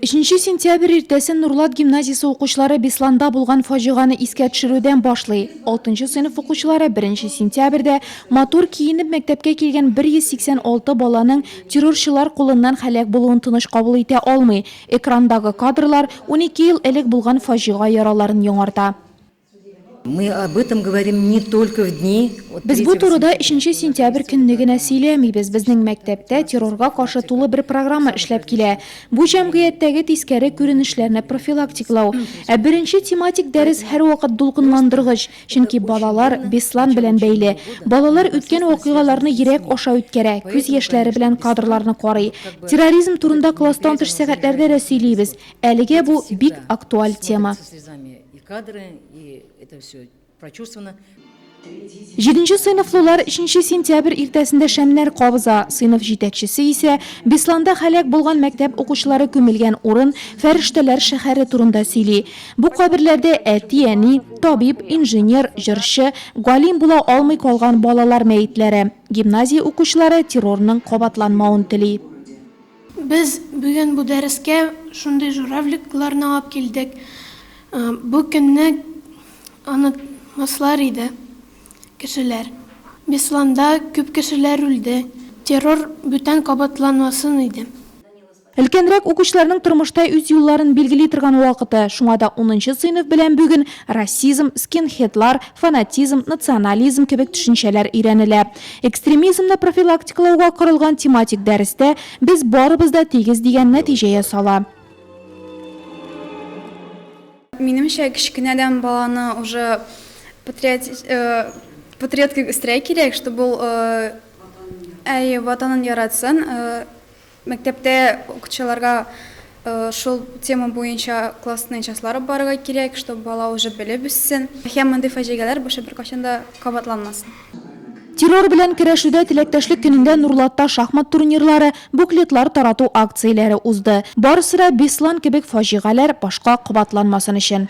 Өченче сентябрь иртәсен Нурлат гимназиясе укучылары Бесланда булган фаҗиганы искә төшерүдән башлый. 6 сыйныф укучылары 1 сентябрьдә матур киенеп мәктәпкә килгән 186 баланың террорчылар кулыннан хәләк булуын тыныч кабул итә алмый. Экрандагы кадрлар 12 ел элек булган фаҗига яраларын яңарта. Без бу турыда өченче сентябрь көнне генә сөйләмибез. Безнең мәктәптә террорга каршы тулы бер программа эшләп килә. Бу җәмгыятьтәге тискәре күренешләрне профилактиклау. Ә беренче тематик дәрес һәрвакыт дулкынландыргыч, чөнки балалар Беслан белән бәйле. Балалар үткән вакыйгаларны йөрәк аша үткәрә, күз яшьләре белән кадрларны карый. Терроризм турында класстан тыш сәгатьләрдә дә сөйлибез. Әлегә бу, бик актуаль тема. Җиденче сыйныфлылар өченче сентябрь иртәсендә шәмнәр кабыза. Сыйныф җитәкчесе исә Бесланда һәлак булган мәктәп укучылары күмелгән урын, фәрештәләр шәһәре турында сөйли. Бу каберләрдә әти, әни, табиб, инженер, җырчы, галим була алмый калган балалар мәетләре. Гимназия укучылары террорның кабатланмавын тели. Без бүген бу дәрескә шундый журавликларны алып килдек. Бу көнне онытмаслар иде кешеләр. Бесланда күп кешеләр үлде. Террор бүтән кабатланмасын иде. Өлкәнрәк укучыларның тормышта үз юлларын билгели торган вакыты. Шуңа да унынчы сыйныф белән бүген расизм, скинхедлар, фанатизм, национализм кебек төшенчәләр өйрәнелә. Экстремизмны профилактикалауга корылган тематик дәрестә без барыбыз да тигез дигән нәтиҗә ясала. Минемчә, кечкенәдән баланы уже патриот кебек үстерә кирәк, чтобы ул әйе, ватанын яратсын. Мәктәптә укытучыларга шул тема буенча классный частьлар алып барырга кирәк, чтобы бала уже белеп үссен һәм мондый фаҗигаләр буше беркайчан да кабатланмасын. Террор белән көрәшүдә теләктәшлек көнендә Нурлатта шахмат турнирлары, буклетлар тарату акцияләре узды. Барысы да Беслан кебек фаҗигаләр башка кабатланмасын өчен.